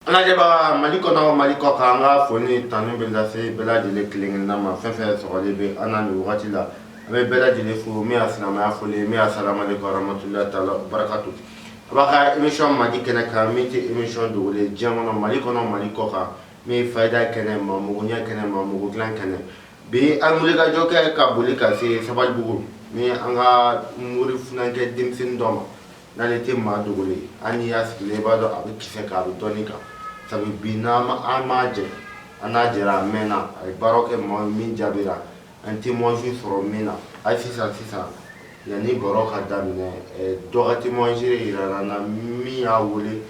lajɛbaga mali kɔnɔ mali kɔkan an ka fo ni tanu bɛ lase bɛɛ lajɛlen kelen-kelenna ma fɛn fɛn sɔgɔlen bɛ an na nin wagati la an bɛ bɛɛ lajɛlen fo min ye silamɛya foli ye min ye asalamu aleykum warahmatulahi taala wabarakatu aw b'aw ka émission mandi kɛnɛ kan min tɛ émission dogolen ye diɲɛ kɔnɔ mali kɔnɔ mali kɔkan min ye fayida kɛnɛ maa mago ɲɛ kɛnɛ maa mago dilan kɛnɛ bi an wulikajɔ kɛ ka boli ka se sabalibugu ni an ka mori funankɛ denmisɛnnin dɔ ma N'ale tɛ maa dogolen an y'a sigi i b'a dɔn a bɛ kisɛ k'a bɛ dɔn kan sabu bi n' an m'a jɛ an n'a jɛra a mɛnna a ye baara kɛ maa min jaabira an témoignage sɔrɔ min na a sisan sisan yanni baro ka daminɛ dɔ ka témoignage jira an na min y'a wele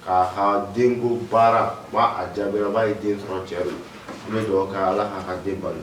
k'a ka denko baara a jaabira b'a ye den sɔrɔ cɛ n bɛ duga ala k'a ka den balo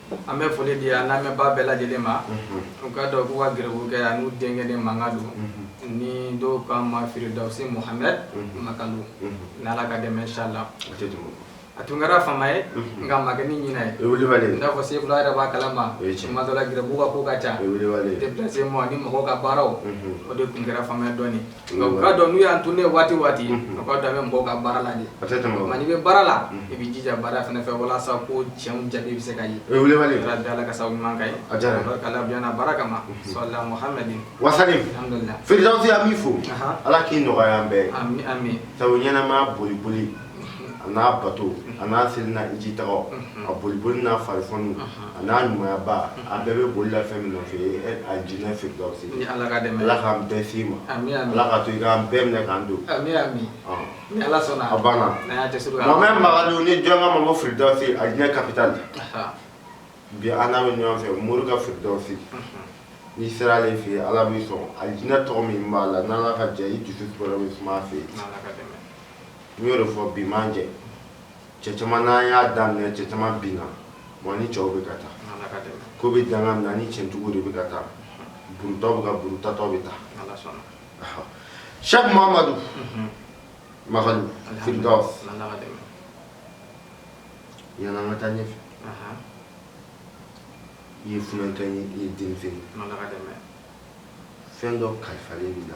An bɛ foli di an lamɛnbaa bɛɛ lajɛlen ma u k'a dɔn k'u ka garibukɛ a n'u denkɛ de makan don ni dɔw k'a ma firidawsi muhamɛd makalu n' ala ka dɛmɛ inshala a tun kɛra fama ye nka a ma kɛ ni ɲinɛ ye n'a fɔ sefila yɛrɛ b'a kalama a dɔ la garibu ka ko ka ca déplacement ni mɔgɔw ka baaraw o de tun kɛra fama ye dɔɔnin Nka' dɔn n'u y'a to ne waati waati a b'a da mɔgɔw ka baara la nka bɛ baara la i bɛ jija baara fana fɛ walasa ko cɛ jaabi bɛ se ka ye dala ka ɲuman ye a baara kama wa fi b'i fo ala k'i nɔgɔya bɛɛ ɲɛnama boli boli a n'a bato a n'a seli n'a hijitaa a boliboli n'a fari a n'a ɲumanyaba a bɛɛ bɛ boli la fɛn min nɔ fɛ alijinɛ firidawsi n'ala ka dɛmɛ ala k'an bɛɛ se a ma ala k'a to u k'an bɛɛ minɛ k'an don a banna muhamɛd makalu ni jɔnw k'a ma ko firidawsi alijinɛ capitale bi an n'a bɛ ɲɔgɔn fɛ mori ka firidawsi n'i sera ale fɛ yen ala b'i sɔn alijinɛ tɔgɔ min b'a la n' ka diya i dusu fɛ yen n y'o de fɔ bi m'an jɛ cɛ caman n'an y'a daminɛ cɛ caman binna wa ni cɛw bɛ ka taa ko bɛ danga na ni cɛntigiw de bɛ ka taa burutaw bɛ ka burutatɔ bɛ taa sɛku mamadu makalu firidawsi yanni an ka taa ɲɛfɛ i ye funankɛ ye i ye denmisɛnnin fɛn dɔ kalifalen b'i la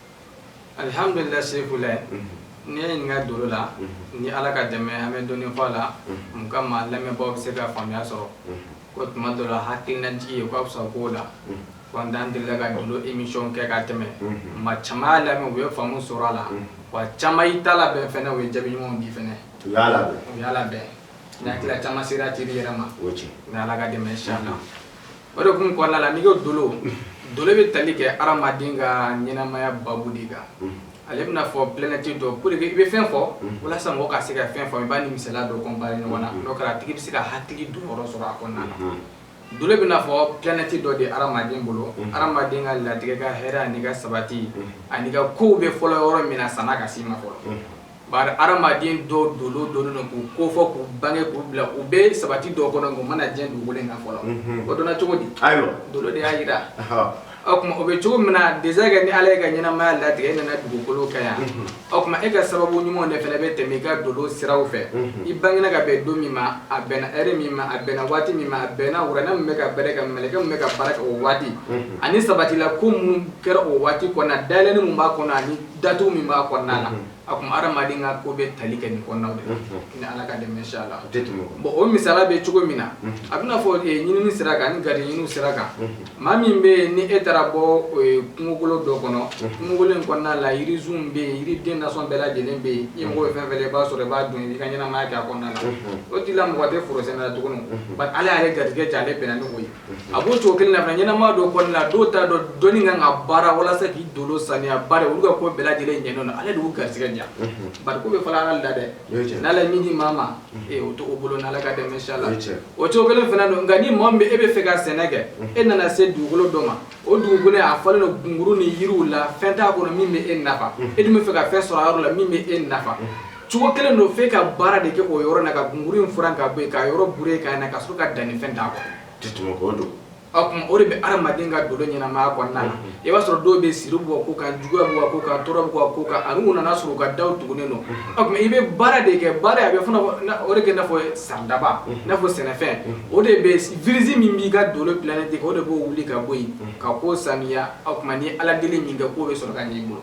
Alihamdulila sefila n'i ye n ɲininka dolo la ni ala ka dɛmɛ an bɛ dɔɔnin fɔ a la n ka maa lamɛnbaaw bɛ se ka faamuya sɔrɔ ko tuma dɔ la hakilinajigin ye k'a fisa ko la ko an delila ka dolo émission kɛ ka tɛmɛ maa caman y'a lamɛn u ye faamu sɔrɔ a la wa caman i ta labɛn fana o ye jaabi ɲumanw di fana u y' labɛn u y'a labɛn n' hakili la caman sera teri yɛrɛ ma ala ka dɛmɛ si na O de kun kɔnɔna la n'i ko dolo dolo bɛ tali kɛ hadamaden ka ɲɛnamaya babu de kan ale bɛna fɔ planète dɔ pour que i bɛ fɛn fɔ walasa mɔgɔ ka se ka fɛn fɔ i b'a ni misala dɔ comparer ɲɔgɔn na n'o kɛra a tigi bɛ se ka hakili don yɔrɔ sɔrɔ a kɔnɔna dolo bɛna fɔ planète dɔ de hadamaden bolo hadamaden ka latigɛ ka hɛrɛ ani ka sabati ani ka ko bɛ fɔlɔ yɔrɔ min na san'a ka se i ma fɔlɔ Bari hadamaden dɔw dɔnnen dɔnnen don k'u kofɔ k'u bange k'u bila u bɛ sabati dɔw kɔnɔ u ma na diɲɛ dugukolo in kan fɔlɔ, unhun, o dɔnna cogo di? Ayiwa, dolo de y'a jira, ɔhɔ, o tuma o bɛ cogo min na déjà kɛ ni Ala ye e ka ɲɛnamaya latigɛ e nana dugukolo kan yan, unhun, o tuma e ka sababu ɲumanw de fana bɛ tɛmɛ i ka dolo siraw fɛ, unhun, i bangera ka bɛn don min ma a bɛnna heure min ma a bɛnna waati min ma a bɛnna wuranɛ min bɛ ka baara kɛ mɛlɛkɛ min bɛ ka baara kɛ o waati, unhun, ani sabatila ko minnu kɛra o waati kɔnɔ dayɛlɛni min b'a kɔnɔ ani datugu min b'a kɔnɔna na o tuma hadamaden ka ko bɛ tali kɛ nin kɔnɔnaw de ni ala ka dɛmɛ inshallah bon o misala bɛ cogo min na a bɛna fɔ ɲinin sira kan ni gari ɲinin sira kan maa min bɛ yen ni e taara bɔ kungokolo dɔ kɔnɔ kungo in kɔnɔna la yirisunw bɛ yen yiri den nasɔn bɛɛ lajɛlen bɛ yen i mako fɛn fɛn i b'a sɔrɔ i b'a dun i ka ɲɛnamaya kɛ a kɔnɔna na o' la mako tɛ foro sɛnɛ na tuguni ala y'ale garijɛgɛ ale bɛnna n' ye a b'o cogo kelen na fana ɲɛnamaya dɔ kɔnɔna na dɔw t'a dɔn dɔnni kan ka baara walasa k'i dolo saniya bari olu ka ko bɛɛ lajɛlen ɲɛlen don Ala de y'u garisigɛ diya bari ko bɛ fɔla Ala de la dɛ o ye tiɲɛ n'Ala ye min di maa ma ee o t'o bolo n'Ala ka dɛmɛ inshallah o ye tiɲɛ o cogo kelen fana don nka ni maa min bɛ e bɛ fɛ ka sɛnɛ kɛ e nana se dugukolo dɔ ma o dugukolo in a falen don gunguru ni yiriw la fɛn t'a kɔnɔ min bɛ e nafa e dun bɛ fɛ ka fɛn sɔrɔ a yɔrɔ la min bɛ e nafa Cogo kelen don fo e ka baara de kɛ o yɔrɔ la ka gunguru in furan ka bɔ yen, ka yɔrɔ boure ka na ka sɔrɔ ka danni fɛn k'a kɔnɔ. Tɛ tɛmɛ o don. O tuma o de bɛ adamaden ka dolo ɲɛnamaya kɔnɔna na. I b'a sɔrɔ dɔw bɛ yen siri b'u ka ko kan, juguya b'u ka ko kan, tɔɔrɔ b'u ka ko kan ani u nana sɔrɔ u ka daw tugunen don. O tuma i bɛ baara de kɛ, baara in a bɛ fɔ o de kɛ i n'a fɔ saridaba, i n'a fɔ sɛnɛfɛn, o de bɛ virus min b'i ka dolo planète o de b'o wuli ka bɔ yen ka ko saniya, o tuma n'i ye Ala deli minkɛ ko bɛ sɔrɔ ka ɲɛ i bolo.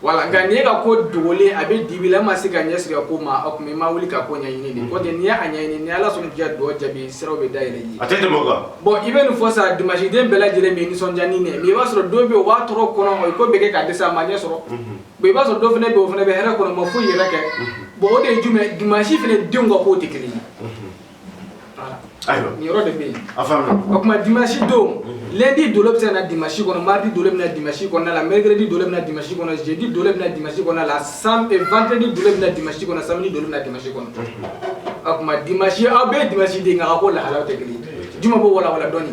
Voilà nka n'i ka ko dogolen a bɛ dibi la ma se ka ɲɛsin i ka ko ma o tuma i ma wuli ka ko ɲɛɲini nin ko tɛ n'i y'a ɲɛɲini ni ala sɔnna diya dɔn jaabi siraw bɛ dayɛlɛ i ye a tɛ bon i bɛ nin fɔ sa dimanche den bɛɛ lajɛlen bɛ nisɔndiya nin ma i b'a sɔrɔ dɔ bɛ o bɛ tɔɔrɔ kɔnɔ a ye ko bɛɛ kɛ ka dɛsɛ a ma ɲɛ sɔrɔ i b'a sɔrɔ dɔ fana bɛ o fana bɛ hɛrɛ kɔnɔ ma foyi yɛrɛ kɛ bon o de ye jumɛn dimanche fana denw ka ko tɛ kelen ye Ayiwa nin yɔrɔ de bɛ yen a faamuya o tuma dimanche don lundi dolo bɛ se ka na dimanche kɔnɔ mardi dolo bɛ na dimanche kɔnɔna la mercredi dolo bɛ na dimanche kɔnɔ jeudi dolo bɛ na dimanche kɔnɔna la sam eh, vendredi dolo bɛ na dimanche kɔnɔ samedi dolo bɛ na dimanche kɔnɔ o tuma dimanche aw bɛɛ ye dimanche den nka a ka ko lahalaw tɛ kelen ye jumɛn an b'o walawala dɔɔni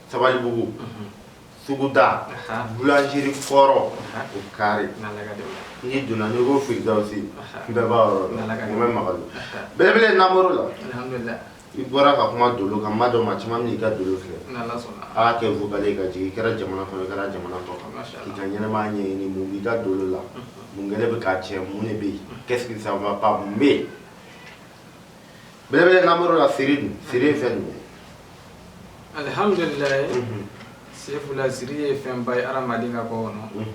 Sabalibugu suguda boulangerie kɔrɔ o carré n'i donna n'i ko Firidawusi bɛɛ b'a yɔrɔ dɔn n bɛ Magadɔ belebele Namɔrɔ la i bɔra ka kuma dolo kan n b'a dɔn maa caman bɛna i ka dolo filɛ a kɛ vocal ye k'a ci i kɛra jamana kɔnɔ i kɛra jamana kɔ kan k'i ka ɲɛnamaya ɲɛɲini mun b'i ka dolo la mun kɛlen bɛ k'a tiɲɛ mun de bɛ yen qu'est-ce qui ça va pas mun bɛ yen belebele Namɔrɔ la siri dun siri ye fɛn jumɛn alihamdulilayi mhm. sefula siri ye fɛnba ye adamaden ka ko kɔnɔ mhm.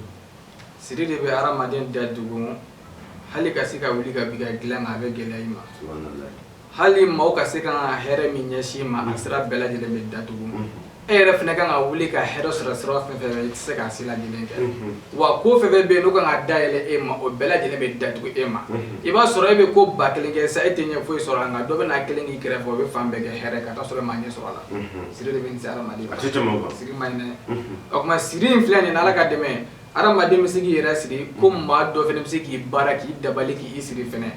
siri de bɛ adamaden datugu hali ka se ka wuli ka bi ka dilan a bɛ gɛlɛya i ma hali maaw ka se ka hɛrɛ min ɲɛsin i ma a sira bɛɛ lajɛlen bɛ datugu e yɛrɛ fana kan ka wuli ka hɛrɛ sɔrɔ sira fɛn fɛn i tɛ se k'a si lajɛlen kɛ wa ko fɛn bɛ yen n'u kan ka da yɛlɛ e ma o bɛɛ lajɛlen bɛ datugu e ma i b'a sɔrɔ e bɛ ko ba kelen kɛ sa e tɛ ɲɛ foyi sɔrɔ a nka dɔ bɛ n'a kelen k'i kɛrɛfɛ o bɛ fan bɛɛ kɛ hɛrɛ ka taa sɔrɔ e ma ɲɛ sɔrɔ a la siri de bɛ se adamaden siri man ɲi o tuma siri in filɛ ni Ala ka dɛmɛ Adamaden bɛ se k'i yɛrɛ siri ko maa dɔ fana bɛ se k'i baara k'i dabali k'i siri fana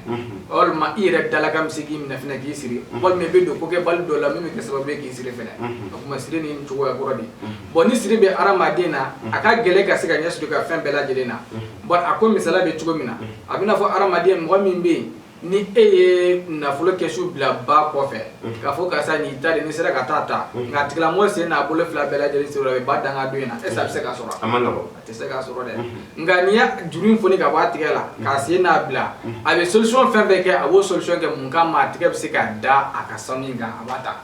walima i yɛrɛ dalakan bɛ se k'i minɛ fana k'i siri walima i bɛ don ko kɛbali dɔ la min bɛ kɛ sababu k'i siri fana o tuma siri in cogoya kɔrɔ de bɔn ni siri bɛ hadamaden na a ka gɛlɛn ka se ka ɲɛ sɔrɔ a ka fɛn bɛɛ lajɛlen na bɔn a ko misali bɛ cogo min na a bɛna a fɔ hadamaden mɔgɔ min bɛ yen ni e ye nafolo kɛsu bila ba kɔfɛ k'a fɔ karisa nin ta de n'i sera ka taa ta nka tigilamɔgɔ sen n'a bolo fila bɛɛ lajɛlen siri a bɛ ba dankan dɔ in na est-ce que a bɛ se ka sɔrɔ a tɛ se ka sɔrɔ dɛ nka n'i ye juru in foni ka bɔ a tigɛ la k'a sen labila a bɛ solution fɛn fɛn kɛ a b'o solution kɛ mun kama a tigɛ bɛ se ka da a ka sanu kan a b'a ta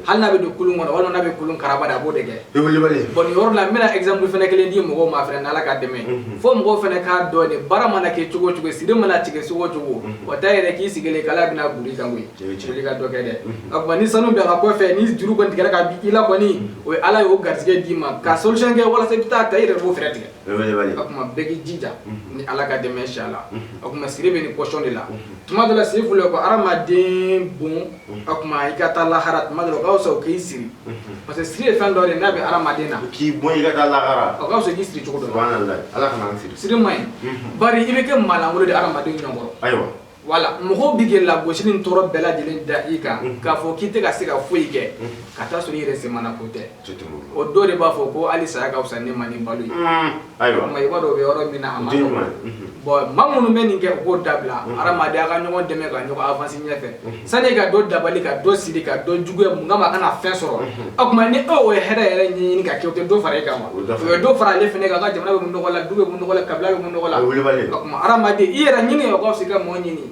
hali n'a bɛ don kulun kɔnɔ walima n'a bɛ kulun karaba de a b'o de kɛ bɔn nin yɔrɔ la n bɛna exemple fana kelen di mɔgɔw ma fana n'Ala ka dɛmɛ mhm. fo mɔgɔw fana k'a dɔn de baara mana kɛ cogo o cogo siri mana tigɛ cogo o cogo mhm. wa t'a yira k'i sigilen k'Ala bɛna bɔn i kan koyi wuli ka dɔ kɛ dɛ mhm. a tuma ni sanu bɛ ba kɔfɛ ni juru kɔni tigɛra ka bɔ i la kɔni o ye Ala ye o garisɛgɛ d'i ma ka solution kɛ walasa i bɛ taa ta i yɛrɛ b'o fɛɛrɛ tigɛ a tuma bɛɛ k'i jija ni Ala ka dɛmɛ inchallah a tuma siri bɛ nin position de la tuma dɔ la siri fɔlɔ ko hadamaden bon o tuma i ka taa lahara tuma dɔ la o ka fisa o k'i siri parce que siri ye fɛn dɔ de n'a bɛ hadamaden na k'i bon i ka taa lahara o ka fisa i k'i siri cogo dɔ la subhanallah ala kana an siri siri man ɲi bari i bɛ kɛ maalankolon de ye hadamadenw ɲɔgɔn kɔrɔ ayiwa voilà mɔgɔw bɛ k'i lagosi ni tɔɔrɔ bɛɛ lajɛlen da i kan k'a fɔ k'i tɛ ka se ka foyi kɛ ka taa sɔrɔ i yɛrɛ semana ko tɛ O dɔw de b'a fɔ ko hali saya ka fisa ne ma ni balo ye ayiwa ma i b'a dɔn o bɛ yɔrɔ min na a ma bɔn maa minnu bɛ nin kɛ u k'o dabila hadamaden an ka ɲɔgɔn dɛmɛ ka ɲɔgɔn avancer ɲɛ fɛ sani ka dɔ dabali ka dɔ siri ka dɔ juguya mun kama a kana fɛn sɔrɔ o tuma ni o ye hɛrɛ yɛrɛ ɲini ka kɛ o tɛ dɔ fara e kan wa o ye dɔ fara ale fana kan jamana bɛ bɔ nɔgɔ la du bɛ bɔ nɔgɔ la kabila bɛ bɔ nɔgɔ la o hadamaden i yɛrɛ ɲini o' sigi ka mɔgɔ ɲini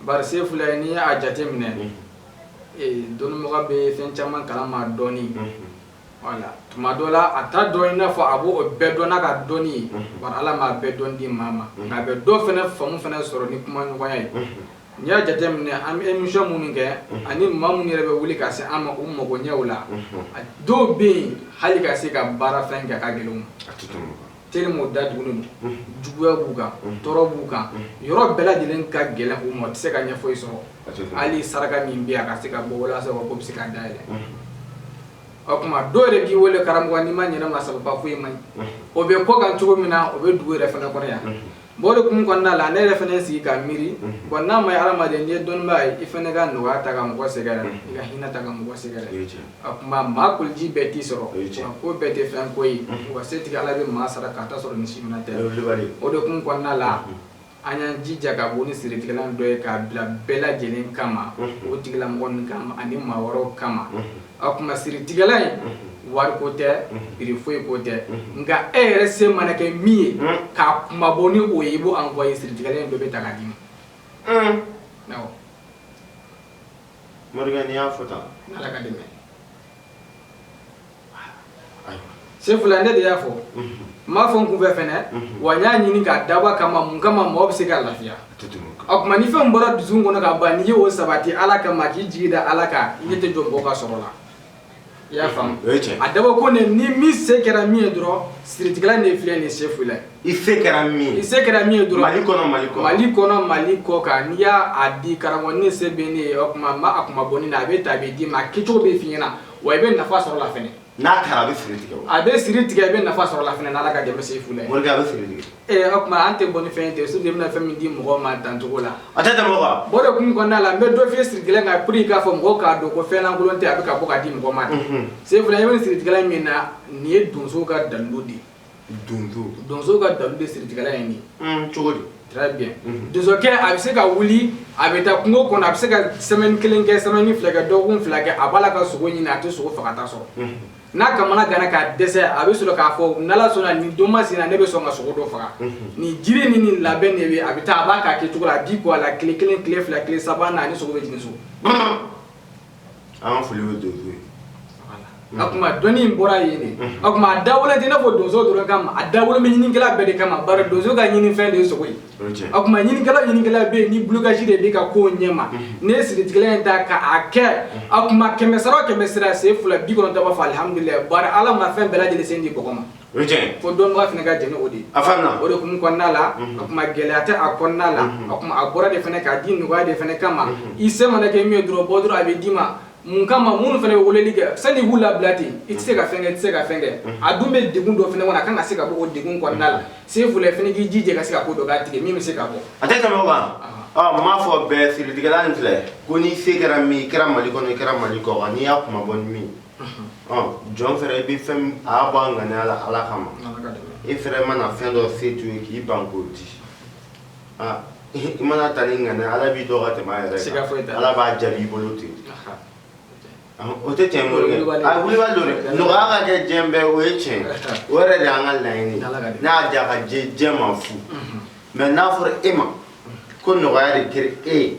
Bari Sefula n'i y'a jate minɛ, unhun, dɔnnibaga bɛ fɛn caman kalama dɔɔnin, unhun, wala, tuma dɔ la a t'a dɔn i n'a fɔ a b'o bɛɛ dɔn n'a ka dɔnni ye, unhun, bari Ala m'a bɛɛ dɔn di maa ma, unhun, nka a bɛ dɔ fɛnɛ faamu fɛnɛ sɔrɔ ni kumaɲɔgɔnya ye, unhun, n'i y'a jate minɛ an bɛ emission minnu kɛ, unhun, ani maa minnu yɛrɛ bɛ wuli ka se an ma u magoɲɛw la, unhun, dɔw bɛ yen hali ka se ka baarafɛn kɛ a ka gɛlɛn u ma. tellement o da dugulen don juguya b'u kan tɔɔrɔ b'u kan yɔrɔ bɛɛ lajɛlen ka gɛlɛn u ma o tɛ se ka ɲɛ foyi sɔrɔ hali saraka min bɛ yen a ka se ka bɔ walasa ko bɛ se ka dayɛlɛ o kuma dɔw yɛrɛ k'i wele karamɔgɔ n'i ma ɲɛ ne ma sababu foyi ma o bɛ kɔkan cogo min na o bɛ dugu yɛrɛ fana kɔnɔ yan Bon o de kun kɔnɔna la ne yɛrɛ fana sigi ka miiri bon n'a ma ye hadamaden n'i ye dɔnnibaa ye i fana ka nɔgɔya ta ka mɔgɔ sɛgɛrɛ i ka hinɛ ta ka mɔgɔ sɛgɛrɛ a kuma maa kuluji bɛɛ t'i sɔrɔ ko bɛɛ tɛ fɛn ko ye wa setigi ala bɛ maa sara ka t'a sɔrɔ ni si minɛ tɛ o de kun kɔnɔna la an y'an jija ka bɔ ni siritigɛlan dɔ ye k'a bila bɛɛ lajɛlen kama o tigilamɔgɔ ninnu kama ani maa wɛrɛw kama a kuma siritigɛlan in wari ko tɛ prix foyi ko tɛ nka e yɛrɛ se mana kɛ min ye k'a kunmabɔ ni o ye i b'o envoyer siritigɛlan in dɔ bɛ ta k'a d'i ma awɔ morikɛ n'i y'a fɔ tan n'ala ka dɛmɛ Sefula ne de y'a fɔ n m'a fɔ n kun fɛ fɛnɛ wa n y'a ɲini k'a dabɔ kama mun kama mɔgɔ bɛ se ka lafiya o kuma ni fɛn bɔra dusukun kɔnɔ ka ban n'i ye o sabati ala kama k'i jigi da ala kan i ɲɛ tɛ jɔ mɔgɔ ka sɔrɔ la i y'a faamu a dabɔ ko ne ni min se kɛra min ye dɔrɔn siritigɛlan de filɛ nin Sefula i se kɛra min i se kɛra min ye dɔrɔn mali kɔnɔ mali kɔ mali kɔnɔ mali kɔ kan n'i y'a di karamɔgɔ nin se bɛ ne ye o kuma n b'a kunmabɔ nin na a bɛ ta a bɛ d'i ma a kɛcogo bɛ f'i ɲɛna wa i bɛ nafa sɔrɔ a la fɛnɛ n'a taara a bɛ siri tigɛ a bɛ siri tigɛ i bɛ nafa sɔrɔ a la fɛnɛ n'ala ka dɛmɛ Sefula morikɛ a bɛ siri tigɛ ee o kuma an tɛ bɔ ni fɛn tɛ surtout i bɛna fɛn min di mɔgɔ ma dancogo la a tɛ tɛmɛ o kan bon o de kun kɔnɔna la n bɛ dɔ f'i ye siritigɛlan kan pour k'a fɔ mɔgɔw k'a dɔn ko fɛn lankolon tɛ a bɛ ka bɔ ka di mɔgɔ ma Sefula i bɛ siritigɛlan min na nin ye donso ka dalilu de donso ka dalilu de siritigɛlan ye nin mm, cogo di très bien mhm. donsokɛ a bɛ se ka wuli a bɛ taa kungo kɔnɔ a bɛ se ka semaine kelen kɛ semaine fila kɛ dɔgɔkun fila kɛ a b'a la ka sogo ɲini a tɛ sogo fagata sɔrɔ mhm. n'a kamanaganna k'a dɛsɛ a bɛ sɔrɔ k'a fɔ n'ala sɔnna nin don masina ne bɛ sɔn ka sogo dɔ faga mhm. nin jiri ni nin labɛn de bɛ a bɛ taa a b'a k'a kɛcogo la a di ko a la tile kelen tile fila tile saba naani sogo bɛ jigin so An ka foli bɛ donsow ye a kuma dɔnni in bɔra yen de a kuma a dabɔlen tɛ i n'a fɔ donso dɔrɔn kama a dabɔlen bɛ ɲinikɛla bɛɛ de kama bari donso ka ɲinifɛn de ye sogo ye a kuma ɲinikɛla ɲinikɛla bɛ yen ni blocage de b'i ka ko ɲɛma n'i ye siritigɛlan in ta k'a kɛ a kuma kɛmɛ sara kɛmɛ sara Sefula bi kɔnɔntɔn b'a fɔ alihamdulila bari ala ma fɛn bɛɛ lajɛlen se di mɔgɔ ma O cɛ ko dɔnnibaga fana ka jɛn n'o de ye a faamu o de kun kɔnɔna la o tuma gɛlɛya tɛ a kɔnɔna la o tuma a bɔra de fana k'a di nɔgɔya de fana kama i se mana kɛ min ye dɔrɔn bɔ dɔrɔn a bɛ d'i ma mun kama minnu fana bɛ weleli kɛ sani b'u labila ten i tɛ se ka fɛn kɛ i tɛ se ka fɛn kɛ a dun bɛ degun dɔ fana kɔnɔ a ka se ka bɔ o degun kɔnɔna la sefula fana k'i jija ka se ka ko dɔ k'a tigɛ min bɛ se ka bɔ a tɛ tɛmɛ o kan b'a fɔ bɛɛ siritigɛla filɛ ko n'i se kɛra min i kɛra mali kɔnɔ i kɛra mali kɔkan n'i y'a kuma bɔ min jɔn fɛnɛ i bɛ fɛn a y'a bɔ a ŋaniya la ala kama i fɛnɛ mana fɛn dɔ se to ye k'i ban k'o di i mana ta ni ŋaniya ala b'i dɔn ka tɛmɛ a yɛrɛ kan ala b'a jaabi i bolo ten o tɛ tiɲɛ morikɛ a wulibali don dɛ nɔgɔya ka kɛ diɲɛ bɛɛ o ye tiɲɛ o yɛrɛ de y'an ka laɲini n'a y'a diya ka diɲɛ ma fu mais n'a fɔra e ma ko nɔgɔya de kɛra e ye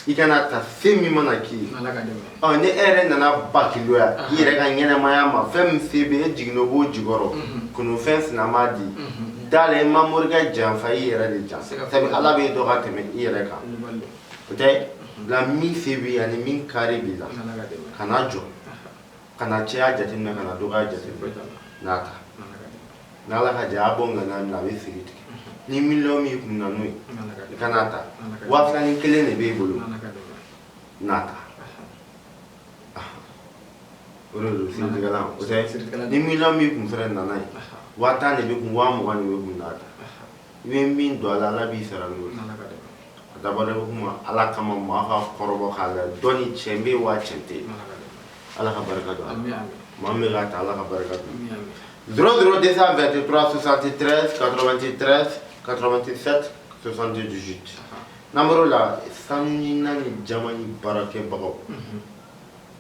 i kana ta fɛn min mana k'i ye Ala ka dɛmɛ ɔ ni e yɛrɛ nana bakiloya i yɛrɛ ka ɲɛnamaya ma fɛn min se bɛ e jiginna o b'o jukɔrɔ kununfɛn sina m'a di da la i ma morikɛ janfa i yɛrɛ de janfa Siga foyi sabu t'a la. ala b'e dɔn ka tɛmɛ i yɛrɛ kan Kulubali o tɛ nka min se b'i ye ani min kari b'i la Ala ka dɛmɛ kana jɔ Kana caya jate minɛ kana dɔgɔya jate minɛ n'a ta n' ala ka diya a bɔ ŋaniya min na a bɛ siri tigɛ ni miliyɔn min kun na n'o ye i ka n'a ta waa filanin kelen de b'e bolo n'a ta o don ni miliyɔn min kun fana nana ye waa tan de bɛ kun waa mugan de bɛ kun n'a ta i bɛ min don ala ala b'i sara a da kuma ala kama maa ka kɔrɔ k'a la dɔn cɛ bɛ waa cɛ tɛ ala ka barika don maa bɛ taa ala ka barika dun duuru de bɛteuranti karatati n'an la sanu naani ni jama ni baarakɛbagaw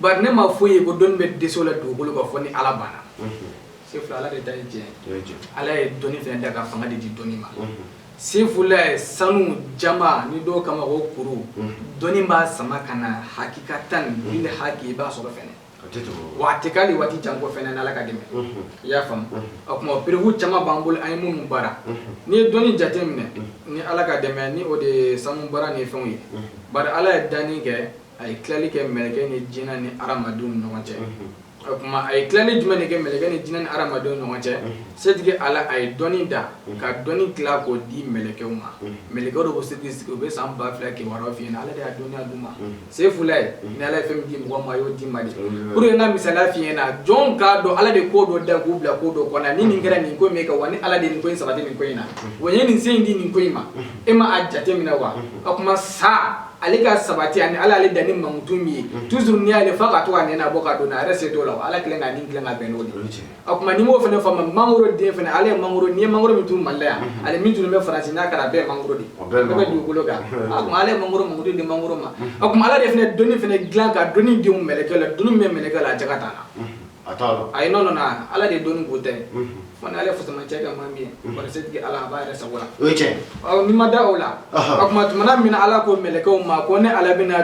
Bari ne ma foyi ye ko dɔnni bɛ dɛsɛ o la dugukolo kan fɔ ni ala banna sefula ala de ta ye tiɲɛ ala ye dɔnni fɛnɛ da ka fanga de di dɔnni ma sefula sanu jama ni dɔw kama o kuru dɔnni b'a sama ka na hakikatan ni haki i b'a sɔrɔ fɛnɛ wa a tɛ k'ali waati jan kɔfɛ n'ala ka dɛmɛ i y'a faamu o tuma preuve caman b'an bolo an ye minnu baara ni ye dɔnni jate minɛ ni ala ka dɛmɛ ni o de ye sanu baara ni fɛnw ye bari ala ye danni kɛ a ye tilali kɛ mɛlɛkɛ ni jinɛ ni hadamadenw ni ɲɔgɔn cɛ o tuma a ye tilali jumɛn de kɛ mɛlɛkɛ ni jinɛ ni hadamadenw ni ɲɔgɔn cɛ setigi ala a ye dɔnni da ka dɔnni tila k'o di mɛlɛkɛw ma mɛlɛkɛw de b'o setigi sigi u bɛ san ba fila kibaruya f'i ɲɛna ala de y'a dɔnniya d'u ma sefula ni ala ye fɛn min di mɔgɔ ma a y'o di ma de pour que n ka misali f'i ɲɛna jɔn k'a dɔn ala de ko dɔ da k'u bila ko dɔ kɔnɔ ni nin kɛra nin ko min kɛ wa ni ala de nin ko in sabati nin ko in na wa n ye nin se in di nin ko in ma e ma a jate minɛ wa o tuma sa ale ka sabati ani ala ale dan ni mankutu min ye mm. toujours n'i y'ale fa ka to ka nɛnɛ bɔ ka don a yɛrɛ se t'o la ala kelen ka nin dilan ka bɛn n'o de o kuma ni m'o fɛnɛ faamu mangoro den fɛnɛ ale ye mangoro n'i ye mangoro min turu mali la yan mm-hmm. ale min tun bɛ faransi n'a kɛra a bɛɛ ye mangoro de ye bɛɛ bɛ dugukolo kan mm-hmm. o kuma ala ye mangoro mankutu di mangoro ma mm-hmm. o kuma ala de fɛnɛ dɔnni fɛnɛ dilan ka dɔnni don mɛlɛkɛ la dɔnni min bɛ mɛlɛkɛ la a jɛ ka t'a la ayi non non ala de dɔnni ko tɛ Fana ale fusama cɛ ka maa min ye setigi ala b'a yɛrɛ sago la o ye tiɲɛ ni ma da o la o kuma tuma min ala ko mɛlɛkɛw ma ko ne ala bɛna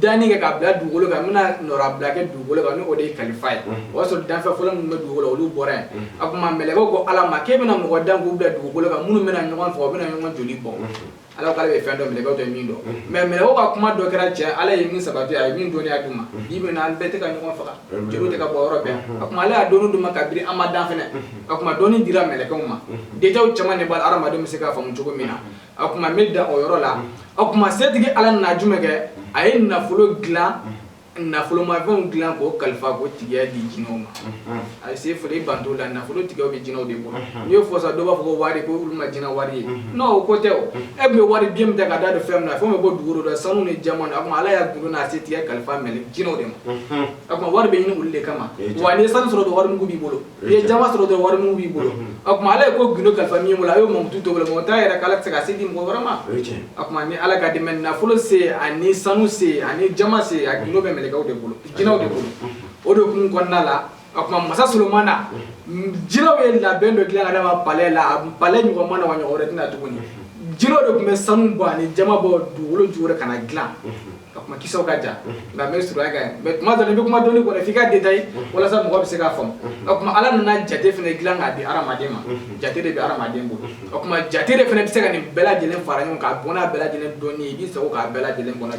danni kɛ ka bila dugukolo kan n bɛna nɔrabila kɛ dugukolo kan n' o de ye kalifa ye o y'a sɔrɔ danfɛn fɔlɔ minnu bɛ dugukolo olu bɔra yan o kuma mɛlɛkɛw ko ala ma k'e bɛna mɔgɔ dan k'u bila dugukolo kan minnu bɛna ɲɔgɔn faga u bɛna ɲɔgɔn joli bɔ ala k'ale bɛ fɛn dɔn mɛlɛkɛw tɛ min dɔn mais mɛlɛkɛw ka kuma dɔ kɛra tiɲɛ ala ye min sabati a ye min dɔnniya d'u ma bi bi in na an bɛɛ tɛ ka ɲɔgɔn faga joli tɛ ka bɔ yɔrɔ bɛɛ a kuma ala y'a dɔnni d'u ma kabini an ma dan fɛnɛ ka kuma dɔnni dira mɛlɛkɛw ma détails caman de b'a la hadamadenw bɛ se k'a faamu cogo min na a kuma n bɛ dan o yɔrɔ la a kuma setigi ala nana jumɛn kɛ a ye nafolo dilan nafolomafɛnw dilan k'o kalifa k'o tigiya di jinɛw ma a se fɔ i banto la nafolo tigiya bɛ jinɛw de bolo n'i y'o fɔ sa dɔw b'a fɔ wari ko olu ma jinɛ wari ye non o ko tɛ e bɛ wari den min ta ka da de fɛn min na fɛn bɛ bɔ dugukolo la sanu ni jama a kuma ala y'a gundo n'a setigiya kalifa mɛlɛ jinɛw de ma a kuma wari bɛ ɲini olu de kama wa n'i ye sanu sɔrɔ dɔrɔn warimugu b'i bolo n'i ye jama sɔrɔ dɔrɔn warimugu b'i bolo a kuma ala ye ko gundo kalifa min bolo a y'o mankutu t'o bolo mɔgɔ t'a yɛrɛ k'ala tɛ se ka se di mɔgɔ wɛrɛ ma O kuma ni ala ka dɛmɛ nafolo se ani sanu se ani jama se a gundo bɛ mɛlɛkɛw de bolo jinɛw de bolo o de kun kɔnɔna la o kuma masa solomana jinɛw ye labɛn dɔ dilan ka d'a ma palais la a palais ɲɔgɔn ma na wa ɲɔgɔn wɛrɛ tɛ na tuguni jinɛw de tun bɛ sanu bɔ ani jama bɔ dugukolo jukɔrɔ ka na dilan o kuma kisaw ka jan nka n b'a surunya kan yan mais kuma dɔ la i bɛ kuma dɔnni kɔnɔ f'i k'a détailler walasa mɔgɔ bɛ se k'a faamu o kuma ala nana jate fɛnɛ dilan k'a di hadamaden ma jate de bɛ hadamaden bolo o kuma jate de fɛnɛ bɛ se ka nin bɛɛ lajɛlen fara ɲɔgɔn kan a bɔn bɛɛ lajɛlen dɔnni ye i b'a sɔrɔ k'a bɛɛ lajɛlen kɔnɔ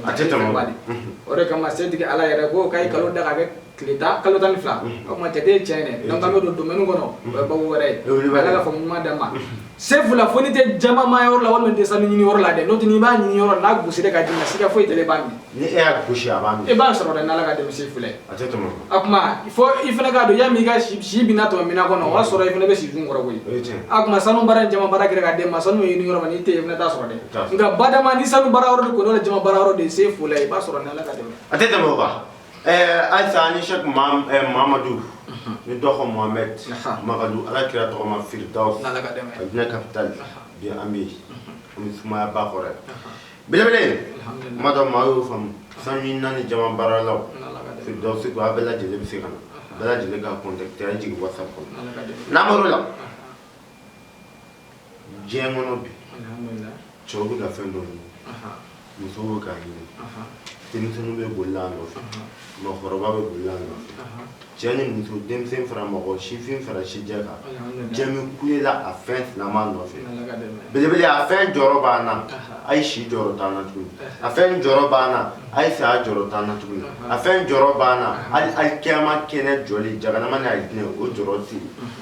o de kama setigi ala yɛrɛ ko k'a ye kalo da ka kɛ tile tan kalo tan ni fila o kuma jate ye tiɲɛ ye dɛ dɔnku an tɛ don domaine kɔnɔ o ye baabu wɛrɛ ye ala ka faamu ɲuman d'an ma sefu la fo n'i tɛ jama ma yɔrɔ la walima tɛ sanu ɲini yɔrɔ la dɛ n'o tɛ n'i b'a ɲini yɔrɔ n'a gosira ka d'i ma siga foyi tɛ ne b'a minɛ ni e y'a gosi a b'a minɛ e b'a sɔrɔ dɛ n'ala ka dɛmɛ sefu la a tɛ tɛmɛ a kuma fo i fana k'a dɔn yanni i ka si si bina tɛmɛ mina kɔnɔ o y'a sɔrɔ i fana bɛ si dun kɔrɔ koyi a kuma sanu baara jama baara kɛra ka d'e ma sanu ɲini yɔrɔ ma n'i tɛ yen i fana t'a sɔrɔ dɛ nka badama ni sanu baara yɔrɔ de kɔni o de jama baara yɔrɔ de ye sefu la i b'a sɔrɔ n'ala ka dɛmɛ a tɛ tɛmɛ o kan Ɛɛ ayisa ni sheikh mamadu ni dɔgɔ mohamed mamadu ala kira tɔgɔma firdaus capitale bi an bɛ an sumaya ba kɔrɔ bele madɔ maa y'o faamu sanu ɲinina ni jama baaralaw firdaus a bɛɛ lajɛlen bɛ se ka na bɛɛ lajɛlen ka jigin WhatsApp kɔnɔ n'an la diɲɛ kɔnɔ bi cɛw bɛ ka fɛn dɔ ɲini musow bɛ k'a ɲini denmisɛnninw bɛ boli a nɔfɛ mɔgɔkɔrɔba bɛ boli a nɔfɛ cɛ ni muso denmisɛn fara mɔgɔ sifin fara sijɛ kan cɛ min kulela a fɛn sinama nɔfɛ belebele a fɛn jɔyɔrɔ b'an na a ye si jɔyɔrɔ t'an na tuguni a fɛn jɔyɔrɔ b'an na a ye saya jɔyɔrɔ t'an na tuguni a fɛn jɔyɔrɔ b'an na hali alikiyama kɛnɛ jɔli jahanama ni alijinɛ o jɔyɔrɔ tɛ yen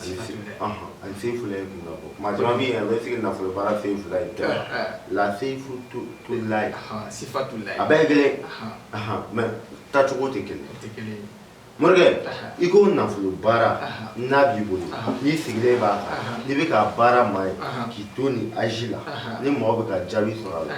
ani sefulayi kun bɔ maa caman min bɛ sigi nafolo baara sefulayi tɛ la sifatulayi sifatu a bɛɛ ye kelen mɛ taacogo tɛ kelen morikɛ i ko nafolo baara n'a b'i bolo n'i sigilen b'a n'i bɛ ka baara maa ye k'i to ni a ji la ni mɔgɔ bɛ ka jaabi sɔrɔ a la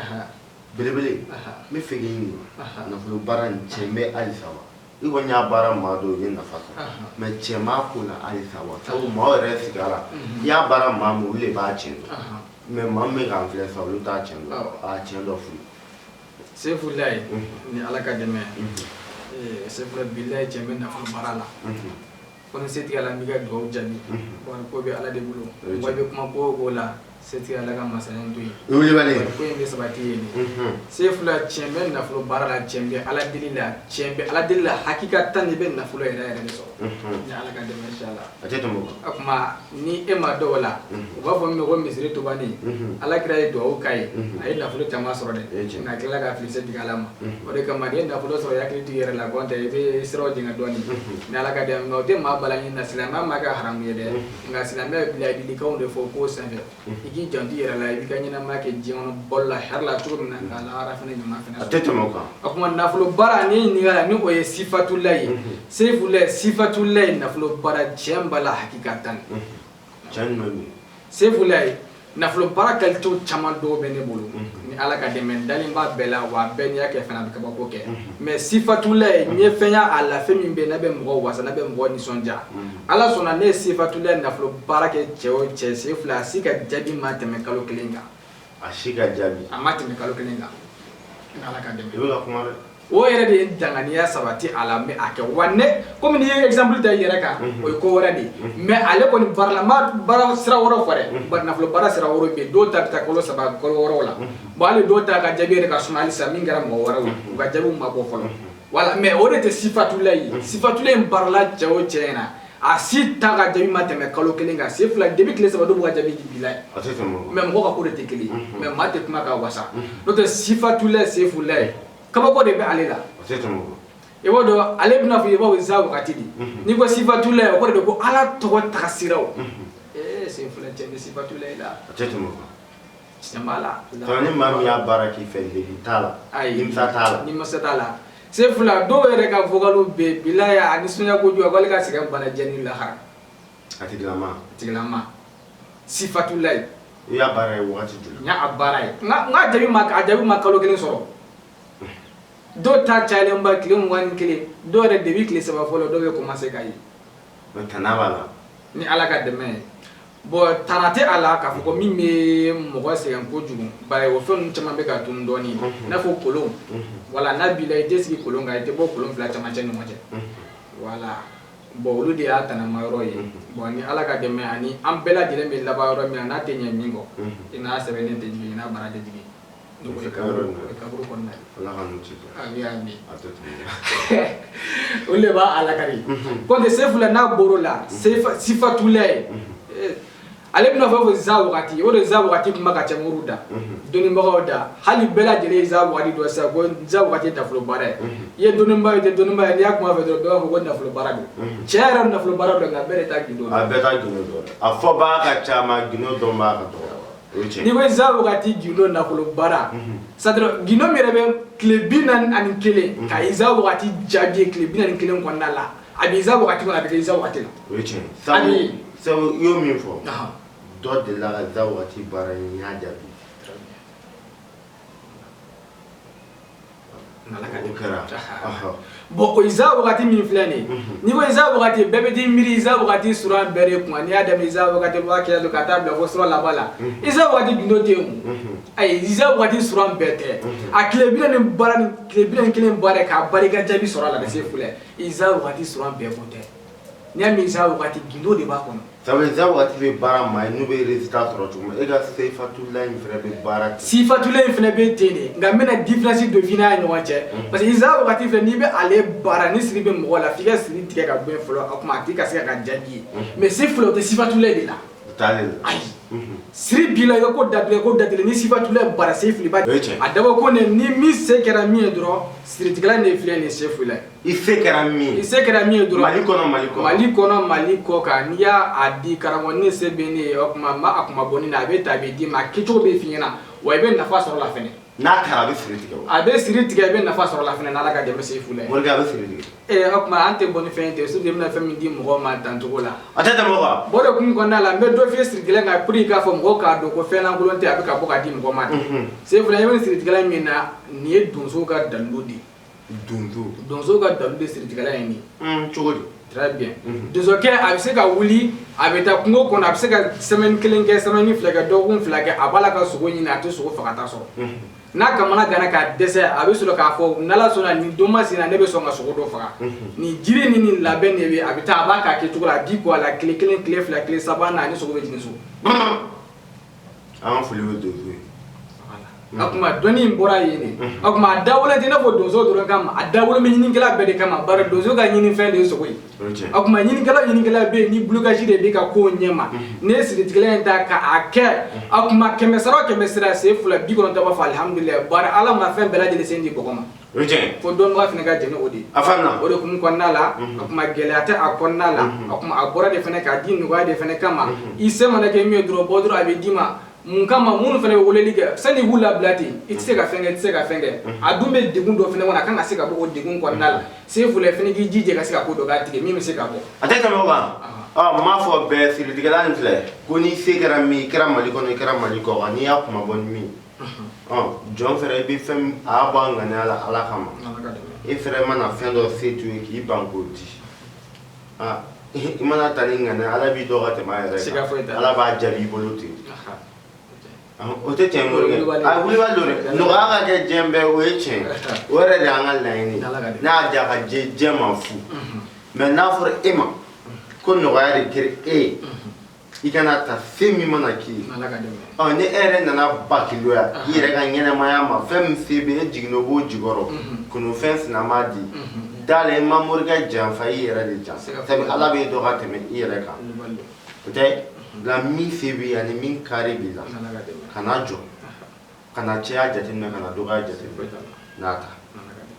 belebele n b'a fɛ k'i ɲininka nafolo baara nin cɛn bɛ halisa wa I kɔni y'a baara maa dɔw ye nafa sɔrɔ mɛ cɛn b'a ko la halisa wa sabu maa yɛrɛ sigi la i y'a baara maa min olu de b'a cɛn dɔn mɛ maa min bɛ k'an filɛ sa olu t'a cɛn dɔn a cɛn dɔ fɔ sefulayi ni ala ka dɛmɛ sefula bilayi cɛn bɛ nafolo baara la Ko ni setigi Ala b'i ka dugawu jaabi, unhun, ko kɔni ko bɛ Ala de bolo, o ye tiɲɛ ye, wa i bɛ kuma ko o ko la setigi Ala ka masaya in to yen, o ye wulibali ye, ko in bɛ sabati yen de, unhun, sefula cɛn bɛ nafolo baara la, cɛn bɛ Ala deli la, cɛn bɛ Ala deli la hakikatan i bɛ nafolo yɛrɛ yɛrɛ de sɔrɔ, unhun, ni Ala ka dɛmɛ inshallah, a tɛ tɛmɛ o kan, o tuma ni e maa dɔw la u b'a fɔ min ma ko misiri tubanin ala kira ye dugawu k'a ye a ye nafolo caman sɔrɔ dɛ nka a tilala ka fili setigi ala ma o de kama n'i ye nafolo sɔrɔ i hakili t'i yɛrɛ la nɔntɛ i bɛ siraw jɛngɛ dɔɔnin ni ala ka dɛmɛ o tɛ maa bali a ɲini na silamɛya m'a kɛ haramu ye dɛ nka silamɛya bɛ laadilikanw de fɔ k'o san i k'i janto i yɛrɛ la i b'i ka ɲɛnamaya kɛ diɲɛ kɔnɔ balo la hɛrɛ la cogo min na nka lahara fana ɲuman fana a tɛ tɛmɛ o kan o kuma nafolo baara nin ɲininkali la ni o ye sifatula ye sefula sifatulayi nafolo baara cɛn b'a la hakikatan cɛn ɲuman bɛ sefulayi nafolo baara kalitew caman dɔw bɛ ne bolo ni ala ka dɛmɛ dalen b'a bɛɛ la wa bɛɛ n'i y'a kɛ fana a bɛ kabako kɛ mɛ sifatulayi n ye fɛn y'a la fɛn min bɛ n'a bɛ mɔgɔ wasa n'a bɛ mɔgɔ nisɔndiya ala sɔnna ne ye sifatula nafolo baara kɛ cɛ o cɛ sefulayi a si ka jaabi ma tɛmɛ kalo kelen kan a si ka jaabi a ma tɛmɛ kalo kelen kan ni ala ka dɛmɛ i bɛ ka kuma dɛ o yɛrɛ de ye danganiya sabati a la mɛ a kɛ wa ne kɔmi n'i ye exemple ta i yɛrɛ kan o ye ko wɛrɛ de ye mɛ ale kɔni baara la n ma baara sira wɛrɛ fɔ dɛ bari nafolo baara sira wɛrɛ bɛ yen dɔw ta bɛ taa kalo saba kalo wɔɔrɔw la bon hali dɔw ta ka jaabi yɛrɛ ka suma halisa min kɛra mɔgɔ wɛrɛw ye u ka jaabiw ma bɔ fɔlɔ wala mais o de tɛ sifatulayi ye sifatulayi in baarala cɛ o cɛ ɲɛ na a si ta ka jaabi ma tɛmɛ kalo kelen kan sefula depuis tile saba dɔw b'u ka jaabi di bilayi mais mɔgɔ ka ko de tɛ kelen ye mais maa tɛ kuma ka wasa n'o tɛ sifatulayi sefulayi kabako de bɛ ale la i b'o dɔn ale bɛ i n'a fɔ i b'a fɔ za wagati de n'i ko sifatulayi o kɔrɔ de ko ala tɔgɔ tagasira ee sefulayi cɛ bɛ sifatulayi la Ni maa min y'a baara k'i fɛ degun t'a la nimisa t'a la nimisa t'a la sefula dɔw yɛrɛ ka vocal bɛ bilayi a nisɔndiya kojugu a ko ale ka sɛgɛn banna diɲɛ ni lahara a tigilama sifatulayi i y'a baara ye waati joli n y'a baara ye n ka jaabi ma kalo kelen sɔrɔ dɔw ta cayalenba tile mugan ni kelen dɔw yɛrɛ depuis tile saba fɔlɔ dɔw bɛ commencer ka ye b'a la ni ala ka dɛmɛ ye Bon tana tɛ a la k'a fɔ ko min bɛ mɔgɔ sɛgɛn kojugu bari o fɛnw caman bɛ ka tunun dɔɔnin i n'a fɔ kolon wala n'a b'i la i tɛ sigi kolon kan i tɛ bɔ kolon fila camancɛ ɲɔgɔn cɛ wala bon olu de y'a tanama yɔrɔ ye bon ni ala ka dɛmɛ ani an bɛɛ lajɛlen bɛ laban yɔrɔ min na a tɛ ɲɛ min kɔ i n'a sɛbɛnnen tɛ jigin i n'a baara tɛ o de b'a a laka kɔnte sefula n'a bɔr'o la sifatulayi ale bɛ i n'a fɔ fɔ za wagati o de za wagati kuma ka ca moriw da dɔnnibagaw da hali bɛɛ lajɛlen ye za wagati dɔn sisan ko za wagati ye nafolo baara ye i ye dɔnniba ye i tɛ dɔnniba ye n'i y'a kuma fɔ dɔrɔn bɛɛ b'a fɔ ko nafolo baara don tiɲɛ yɛrɛ nafolo baara don nka bɛɛ de t'a gindo a bɛɛ t'a gindo dɔn a fɔbaa ka ca mais a gindo dɔnbaa ka dɔgɔ n'i ko iza wagati gindo nafolo baara c'est-à-dire gindo min yɛrɛ bɛ tile bi naani ani kelen ka iza wagati jaabi tile bi naani ni kelen kɔnɔna la a bɛ iza wagati kɔnɔ a bɛ iza wagati la sabu i y'o min fɔ dɔ de la ka za waati baara y'a jaabi bon o iza wagati min filɛ nin ye n'i ko iza wagati bɛɛ bɛ t'i miiri iza wagati suran bɛɛ de ko n'i y'a daminɛ iza wagati wakiyatu ka taa bila fo sura laban la iza wagati gundo tɛ yen ayi iza wagati suran bɛɛ tɛ a tile bi naani ni kelen baara k'a baara ka jaabi sɔrɔ a la de sefula iza wagati suran bɛɛ ko tɛ N'i y'a mɛn za waati gindo de b'a kɔnɔ sabu za waati bɛ baara maa ye n'u bɛ résultat sɔrɔ cogo min e ka sifatula in fana bɛ baara ten sifatula in fana bɛ ten de nka n bɛna différence dɔ f'i n'a ye ɲɔgɔn cɛ parce que za waati filɛ n'i bɛ ale baara ni siri bɛ mɔgɔ la f'i ka siri tigɛ ka bɔ yen fɔlɔ o tuma a tigi ka se ka jaabi ye mais sefula o tɛ sifatula de la ayi siri b'i la i ka ko datugulen ni sifatula baara sefula ba a dabɔ ko ni min se kɛra min ye dɔrɔn siritigɛlan filɛ nin sefulayi I se kɛra min i se kɛra min ye dɔrɔn mali kɔnɔ mali kɔ mali kɔnɔ mali kɔ kan n'i y'a di karamɔgɔ ne se bɛ ne o tuma ma a kuma bɔ ne na a bɛ ta a bɛ d'i ma a kɛcogo bɛ f'i ɲɛna wa i bɛ nafa sɔrɔ la n'a taara a bɛ siri tigɛ a bɛ siri tigɛ i bɛ nafa sɔrɔ la fana ala ka dɛmɛ sefula a bɛ siri tigɛ ee o tuma an tɛ bɔ ni fɛn tɛ surtout i bɛna fɛn min di mɔgɔ ma dancogo la a tɛ tɛmɛ bɔ de kun kɔnɔna la n bɛ dɔ f'i ye siritigɛla kan pour k'a fɔ mɔgɔw k'a dɔn ko fɛnlankolon tɛ a bɛ ka bɔ k'a di mɔgɔ ma sefula i bɛ siritigɛla min na nin ye donso ka dalilu de ye donso ka dalilu de siritigɛla ye nin ye cogo di très bien donsokɛ a bɛ se ka wuli a bɛ taa kungo kɔnɔ a bɛ se ka semaine kelen kɛ semaine fila kɛ dɔgɔkun fila kɛ a b'a la ka sogo ɲini a tɛ sogo fagata sɔrɔ n'a kamanaganna ka dɛsɛ a bɛ sɔrɔ k'a fɔ n'ala sɔnna nin don masina ne bɛ sɔn ka sogo dɔ faga nin jiri ni nin labɛn de bɛ a bɛ taa a b'a k'a kɛcogo la a b'i ko a la tile kelen tile fila tile saba n'a ni sogo bɛ jigin so An ka foli bɛ donso ye o tuma dɔnni in bɔra yen de o tuma a dabɔlen tɛ i n'a fɔ donso dɔrɔn kama a dabɔlen bɛ ɲinikɛla bɛɛ de kama bari donso ka ɲinifɛn de ye sogo ye o tuma ɲinikɛla ɲinikɛla bɛ yen ni blocage de b'i ka ko ɲɛma n'i ye siritigɛla in ta k'a kɛ a tuma kɛmɛ sara kɛmɛ sira sefula bi kɔnɔntɔn b'a fɔ alihamudulilayi bari ala ma fɛn bɛɛ lajɛlen se di mɔgɔ ma O cɛ ko dɔn fana ka jɛn ni o de ye o de kun kɔnɔna la o tuma gɛlɛya tɛ a kɔnɔna la o tuma a bɔra de fana k'a di nɔgɔya de fana kama i se mana kɛ min ye dɔrɔn bɔ dɔrɔn a bɛ d'i ma mun kama minnu fana bɛ weleli kɛ san'i b'u labila ten i tɛ se ka fɛn i tɛ se ka fɛn kɛ a dun bɛ degun dɔ fana kɔnɔ a ka se ka bɔ degun kɔnɔna la sefula fana k'i jija ka se ka ko dɔ k'a tigɛ min bɛ se ka bɔ a tɛ tɛmɛ o kan n m'a fɔ bɛɛ siritigɛla filɛ ko n'i se kɛra min i kɛra mali kɔnɔ i kɛra mali kɔ n'i y'a kuma bɔ min jɔn fɛnɛ i bɛ fɛn a y'a bɔ a ŋaniya la ala kama i fɛnɛ mana fɛn dɔ se t'i ye k'i ban k'o di i mana ta ni ŋaniya ala b'i dɔn ka tɛmɛ a yɛrɛ kan ala b'a jaabi i bolo ten o tɛ tiɲɛ morikɛ a wulibali don dɛ nɔgɔya ka kɛ diɲɛ bɛɛ o ye tiɲɛ o yɛrɛ de y'an ka laɲini n'a y'a diya ka diɲɛ ma fu mɛ n'a fɔra e ma ko nɔgɔya de kɛra e ye i kana ta se min mana k'i ye Ala ka dɛmɛ ɔ ni e yɛrɛ nana bakiluya i yɛrɛ ka ɲɛnamaya ma fɛn min se bɛ e jiginna o b'o jukɔrɔ kunun fɛn sina m'a di da la i ma morikɛ janfa i yɛrɛ de janfa sabu Ala b'e dɔn ka tɛmɛ i yɛrɛ kan wulibali don o tɛ nka min se b'i ye ani min kari b'i la Ala ka dɛmɛ kana jɔ kana caya jateminɛ kana dɔgɔya foyi jateminɛ t'a la n'a ta Ala ka dɛmɛ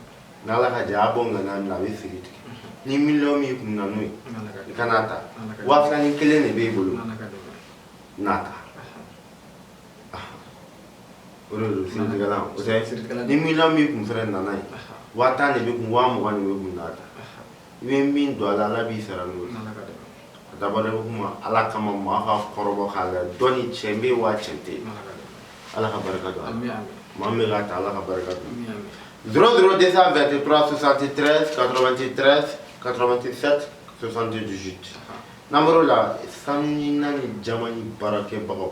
N'ala ka jɛn a bɔ ŋaniya min na a bɛ siri tigɛ ni miliyɔn min kun na n'o ye i kan'a ta waa ni kelen de b'e bolo n'a ta o ni miliyɔn min kun fana nana ye waa tan de b'e kun waa mugan de b'e kun n'a ta i bɛ min don ala ala b'i sara don a da kuma ala kama maa ka kɔrɔ k'a la dɔn cɛ bɛ waa cɛ tɛ ala ka barika don maa bɛ taa ala ka barika dɔrɔn dɔrɔn de bɛtesantete katesantesantesi n'an la sanu naani ni jama ni baarakɛbagaw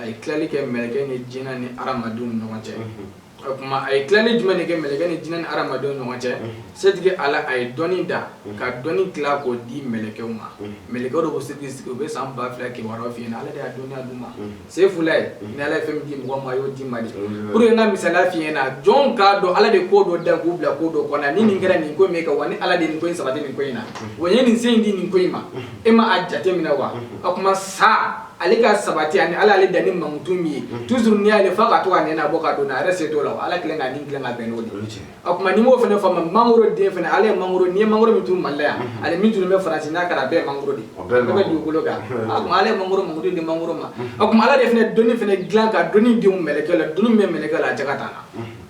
a ye tilali kɛ mɛlɛkɛ ni jinɛ ni aramadenw ɲɔgɔn cɛ o tuma a ye tilali jumɛn de kɛ mɛlɛkɛ ni jinɛ ni aramadenw ɲɔgɔn cɛ setigi ala a ye dɔnni da ka dɔnni tila k'o di mɛlɛkɛw ma mɛlɛkɛw dɔ b'u sigi k'u bɛ san ba fila kibaru fɔ i ɲɛna ala de y'a dɔnniya d'u ma sayifulayi ni ala ye fɛn di mɔgɔ ma a y'o di ma di olu ye ka misali fi na jɔn k'a dɔn ala de ko dɔ da k'o bila ko dɔ kɔnɔ ni nin kɛra nin ko min kɛ wa ni ala de nin ko in sabati nin ko in na wa a ye nin se in di nin ko in ma e ma a jate minɛ wa o tuma sa ale ka sabati ani ala y'ale dan ni mankutu min ye toujours ni y'ale fa ka to ka nɛnɛ bɔ ka don a yɛrɛ se t'o la ala kelen k'a ni kelen ka bɛn n'o de o tuma n'i m'o fana faamu mangoro den fana ale ye mangoro n'i ye mangoro min turu mali la yan ale min turu bɛ faransi n'a kɛra a bɛɛ ye mangoro de o bɛ dugukolo kan o tuma ala ye mangoro mankutu di mangoro ma o tuma ala de fana dɔnni fana dilan ka dɔnni don mɛlɛkɛ la dɔnni min bɛ mɛlɛkɛ la a jaka t'a la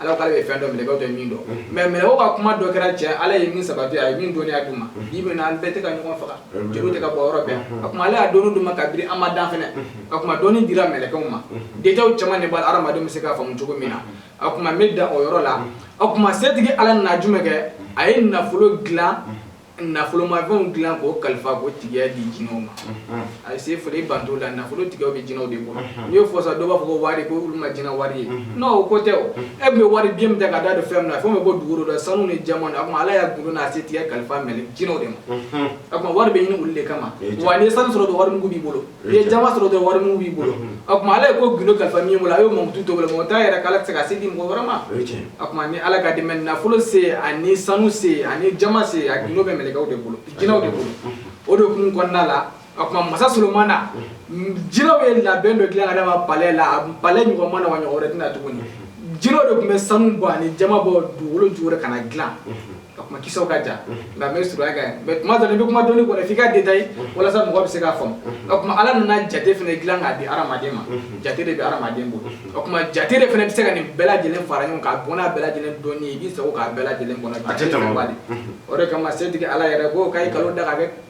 ala k'ale bɛ fɛn dɔn mɛlɛkɛw tɛ min dɔn mais mɛlɛkɛw ka kuma dɔ kɛra cɛn ala ye min sabati a ye min dɔnniya d'u ma i bɛna an bɛɛ tɛ ka ɲɔgɔn faga joli tɛ ka bɔn yɔrɔ bɛɛ a kuma ala y'a dɔnni d'u ma kabiri an ma dan fana a kuma dɔnni dira mɛlɛkɛw ma détails caman de b'a la hadamadenw bɛ se k'a faamu cogo min na a tuma n bɛ dan o yɔrɔ la a tuma setigi ala na jumɛn kɛ a ye nafolo dilan nafolomafɛnw dilan k'o kalifa k'o tigiya di jinɛw ma a sayifulayi bantola nafolo tigiya bɛ jinɛw de bolo n'i y'o fɔ sa dɔw b'a fɔ wari ko olu ma jinɛ wari ye non o ko tɛ e bɛ wari biye min ta ka da de fɛn min na fɛn min bɛ bɔ dugu rɔ sanu ni jaman a tuma ala y'a gundo n'a setigiya kalifa mɛlɛ jinɛw de ma a tuma wari bɛ ɲini olu de kama wa n'i ye sanu sɔrɔ dɔrɔn warimugu b'i bolo i ye jaman sɔrɔ dɔrɔn warimugu b'i bolo o tuma ala ye ko gundo kalifa min bolo a y'o mankutu to o bolo mais o t'a yira k'ala tɛ se ka se di mɔgɔ wɛrɛ ma o ye tiɲɛ ye o tuma ni ala ka dɛmɛ nafolo se ani sanu se ani jaman se a gundo bɛ mɛlɛkɛw de bolo jinɛw de bolo o de kun kɔnɔna la o tuma masa solomana jinɛw ye labɛn dɔ dilan ka d'a ma palais la a palais ɲɔgɔn ma na wa a ɲɔgɔn wɛrɛ tɛna tuguni jinɛw de tun bɛ sanu bɔ ani jaman bɔ dugukolo jukɔrɔ ka na dilan a kuma kisa ka jan nka n bɛ surunya kan yan mais kuma dɔnni bɛ kuma dɔnni kɔnɔ f'i ka détaillé walasa mɔgɔ bɛ se k'a faamu o tuma ala nana jate fana dilan k'a di hadamaden ma jate de bɛ hadamaden bolo o tuma jate de fana bɛ se ka nin bɛɛ lajɛlen fara ɲɔgɔn kan bon a bɛɛ lajɛlen dɔnni i bɛ se ko k'a bɛɛ lajɛlen kɔnɔ o de kama setigi ala yɛrɛ ko a ye kalo da k'a kɛ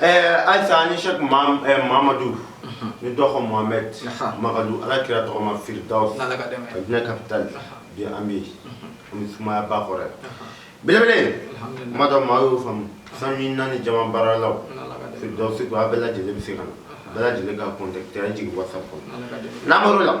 Ɛɛ ayisa ani sɛki mamadu ni dɔgɔ mohamɛdi magadu ala kira tɔgɔma firidawusi diinɛ capitale bi an bɛ an suma ba kɔrɔ bele mada maa y'o faamu sanu nin ani jaman baaralaw firidawusi a bɛɛ lajɛlen bɛ se k'an bɛɛ lajɛlen ka contact jigin whatsapp nimɔrɔ la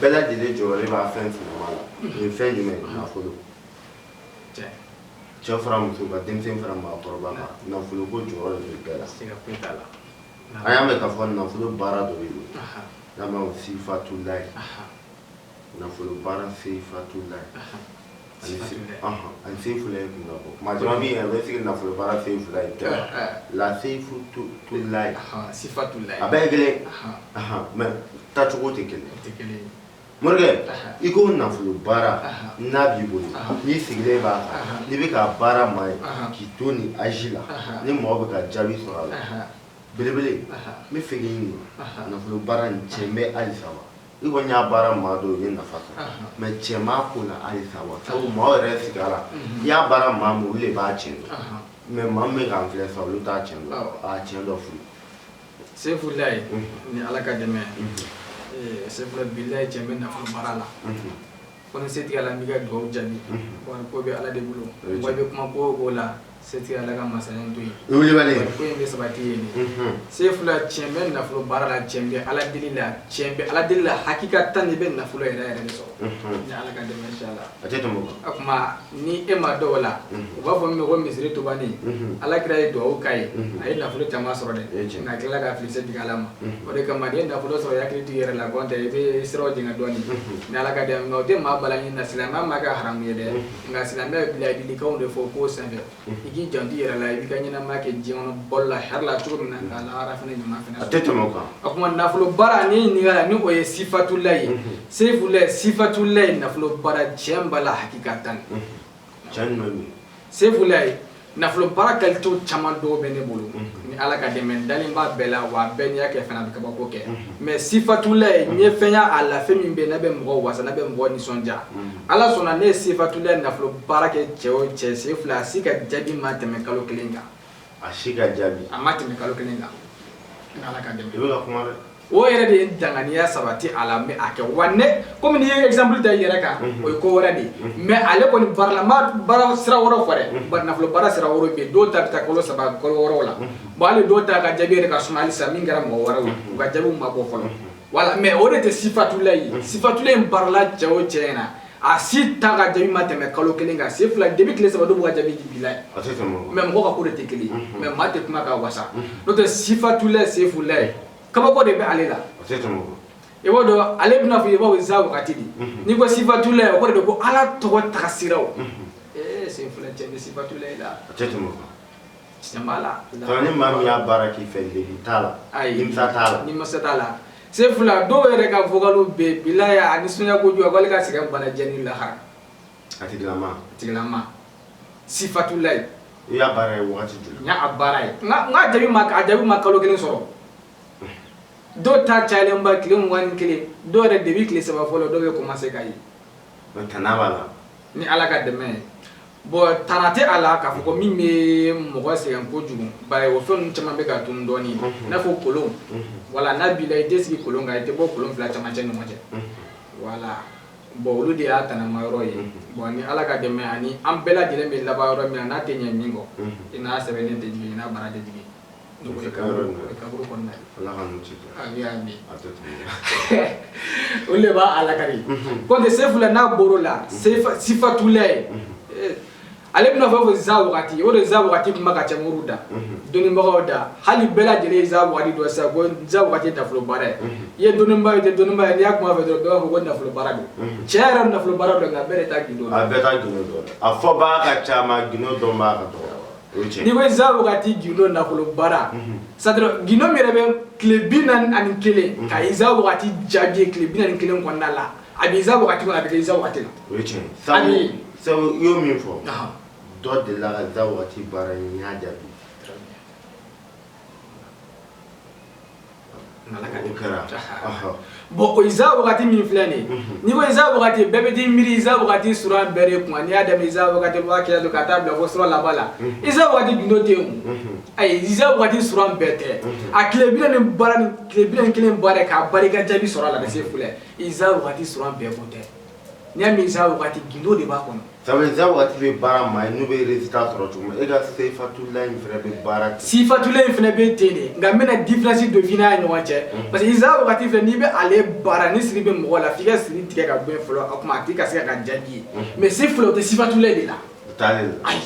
bɛɛ lajɛlen jɔrɔ de b'a fɛn fila la o ye fɛn jumɛn nafolo cɛ fara muso kan denmisɛn fara maakɔrɔba kan nafolo ko jɔrɔ de bɛ bɛɛ la an y'a mɛn k'a fɔ nafolo baara dɔ bɛ yen n'a ma sifatula ye nafolo baara sifatula ye ani sefula ye kun bɔ maa jama min a bɛ sigi nafolo baara sefula ye kɛra la sifatula ye sifatula a bɛɛ ye kelen mɛ tacogo tɛ kelen morikɛ i ko nafolo baara n'a b'i bolo n'i sigilen b'a n'i bɛ k'a baara maa ye k'i to ni azi la ni mɔgɔ bɛ ka jaabi sɔrɔ a la belebele n b'a fɛ k'i ɲini nafolo baara nin tiɲɛ bɛ halisa wa I kɔni y'a baara maa dɔ ye nafa mɛ cɛ maa ko na halisa wa sabu maa yɛrɛ sigi la i y'a baara maa min de b'a tiɲɛ dɔn mɛ maa bɛ k'an filɛ sa olu t'a tiɲɛ dɔn tiɲɛ don furu sefula ye ni ala ka dɛmɛ sefula bilahi tiɲɛ bɛ nafolo baara la Ko ni setigi ala bɛ dugawu jaabi o ko bɛ ala de bolo wa bɛ kuma ko o la setigi ala ka masaya to ye ko yen de sabati ye sefula tiɲɛ bɛ nafolo baara la tiɲɛ bɛ ala deli la tiɲɛ bɛ ala deli la hakikatan i bɛ nafolo yɛrɛ yɛrɛ sɔrɔ ni ala ka dɛmɛ inshallah a tɛ a kuma ni e ma dɔw la u b'a fɔ min ko misiri ntubannin alakira ye dugawu k'a ye a ye nafolo caman sɔrɔ dɛ nka a tilala ka fili d ala ma o de kama n'i ye nafolo sɔrɔ i hakili to i yɛrɛ la n'o tɛ i bɛ sira jɛngɛ dɔɔnin ni ala ka dɛmɛ o tɛ maa bali a ɲini na silamɛya m'a kɛ haramu ye dɛ nka silamɛya bɛ laadilikanw de fɔ k'o san i k'i janto i yɛrɛ la i b'i ka ɲɛnama kɛ diɲɛ kɔnɔ balo la hɛrɛ la cogo min na k'a lahara fana ɲuman fana a tɛ tɛmɛ o kan a kuma nafolo baara ni ɲininkali la ni o ye sifatula ye sefula sifatula ye nafolo baara tiɲɛ b'a la hakikatan cɛ ɲuman bɛ sefula ye nafolo baara kalitew caman dɔw bɛ ne bolo ni ala ka dɛmɛ n dalen b'a bɛɛ la wa bɛɛ n'i y'a kɛ fana a bɛ kabako kɛ mɛ sifatula ye n ye fɛn ye a la fɛn min bɛ n'a bɛ mɔgɔ wasa n'a bɛ mɔgɔ nisɔndiya ala sɔnna ne ye sifatula nafolo baara kɛ cɛ o cɛ sefula a si ka jaabi ma tɛmɛ kalo kelen kan a si ka jaabi a ma tɛmɛ kalo kelen kan ni ala ka dɛmɛ i bɛ ka kuma dɛ o yɛrɛ de ye danganiya sabati a la mɛ a kɛ wa ne kɔmi n'i ye exemple ta i yɛrɛ kan o ye ko wɛrɛ de ye mɛ ale kɔni baaralama baara sira wɛrɛ fɔ dɛ bari nafolo baara sira wɛrɛ bɛ yen dɔw ta bɛ taa kalo saba kalo wɔɔrɔw la bon hali dɔw ta ka jaabi yɛrɛ ka suma halisa min kɛra mɔgɔ wɛrɛw ye u ka jaabiw ma bɔ fɔlɔ wala mɛ o de tɛ sifatula ye sifatula in baarala cɛ o cɛ in na a si ta ka jaabi ma tɛmɛ kalo kelen kan sefula de bɛ tile saba dɔw b'u ka jaabi di bilahi mɛ mɔgɔ ka ko de tɛ kelen mɛ maa tɛ kuma ka wasa n'o tɛ sifatula sefula ye kabako de bɛ ale la i b'o dɔn ale bɛna fɔ i b'aw za wagati di n'i ko sifatula ye o ko de don ko ala tɔgɔ tagasiraw ee sefula cɛ ni sifatula la Ni maa min y'a baara k'i fɛ t'a la t'a la Sefula dɔw yɛrɛ ka vocal bɛɛ bila a ni sunjata ko jɔ wali ka sɛgɛn balajɛ lahara sifatula i y'a baara ye baara ye n'a jaabi ma a jaabi ma kalo kelen sɔrɔ dɔw ta cayalenba tile mugan kelen dɔw yɛrɛ de bɛ tile saba fɔlɔ dɔw bɛ komanse k'a ye b'a la ni ala ka dɛmɛ ye Bon tana tɛ a la k'a fɔ ko min bɛ mɔgɔ sɛgɛn kojugu bari o fɛn caman bɛ ka dun dɔɔnin n'a fɔ kolon wala n'a b'i la i tɛ sigi kolon kan i tɛ bɔ kolon fila camancɛ ɲɔgɔn cɛ wala bon olu de y'a tanama yɔrɔ ye bon ni ala ka dɛmɛ ani an bɛɛ lajɛlen bɛ laban yɔrɔ min na a tɛ ɲɛ min kɔ i n'a sɛbɛnden tɛ jigin i n'a baara de o de b'a a laka kɔnte Sefula n'a bolo la sifatula ye ale bɛna fɔ fɔ iza wagati o de iza wagati kuma ka ca moriw da dɔnnibagaw da hali bɛɛ lajɛlen iza wagati dɔn sa ko iza wagati nafolo baara ye i ye dɔnnibaa ye i tɛ dɔnnibaa ye n'i y'a kuma fɔ dɔrɔn bɛɛ b'a fɔ ko nafolo baara don tiɲɛ yɛrɛ nafolo baara don nka bɛɛ de t'a gindo a bɛɛ t'a gindo dɔn a fɔbaa ka ca gindo dɔnbaa ka dɔgɔ n'i ko iza wagati gindo nafolo baara sadira gindo min yɛrɛ bɛ tile bi naani ani kelen ka iza wagati jaabi ye tile bi naani kelen kɔnɔna la a bɛ iza wagati kɔnɔ a bɛ kɛ iza wagati la o ye tiɲɛ ye sabu sabu i y'o min fɔ dɔ delila ka iza wagati baara ye n y'a jaabi Bɔnza wagati min filɛ nin ni kosa wagati bɛɛ bɛ di miiri y'a don ka taa bila fɔ laban la isa waati gdo tɛ ayiza waati s bɛɛ tɛ a tile kelen k'a barika jaabi sɔrɔ a la se filɛza waati s bɛɛ kun tɛ N'i y'a mɛn iza waati gindo de b'a kɔnɔ sabu iza waati bɛ baara ma n'u bɛ résultat sɔrɔ cogo e ka sifatula in fana bɛ baara sifatula in fana bɛ ten de nka n bɛna différence don fila ni ɲɔgɔn cɛ parce que iza waati fɛ n'i bɛ ale baara ni siri bɛ mɔgɔ la f'i ka siri tigɛ ka bɔ fɔlɔ a tuma a tɛ ka se k'a jaabi ye mais Sefula o tɛ sifatula de la ayi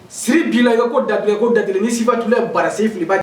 siri b'i la ko da o da ni sifatula baara sen filiba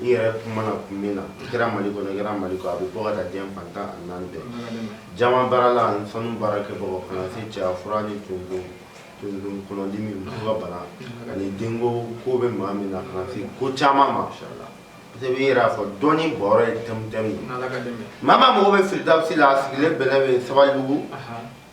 I yɛrɛ kumana kun min na i kɛra mali kɔnɔ i kɛra mali kɔ a bɛ bɔ ka taa diɲɛ fan tan ani naani bɛɛ jaman baarala ani sanu baarakɛbaaw kana se cɛya fura ni tonso kɔnɔdimi muso ka bana ani denko ko bɛ maa min na kana se ko caman ma parce que i yɛrɛ y'a fɔ dɔnni bɔrɔ ye tɛmutɛmu ye maa o maa mago bɛ Firidawusi la a sigilen bɛlɛ bɛ Sabalibugu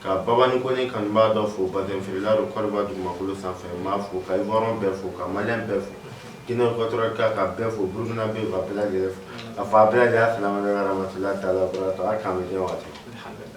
Ka baba ni kɔni kan b'a dɔ fo bafla don kɔrɔɔriba dugu makolo sanfɛ m maa fo ka hɔrɔn bɛɛ fo ka ma bɛɛ fo jinɛinɛfatɔ kan ka bɛɛ fo buruina bɛ fafɛ a fa bɛɛ y'a fila wɛrɛ matila ta la kan waati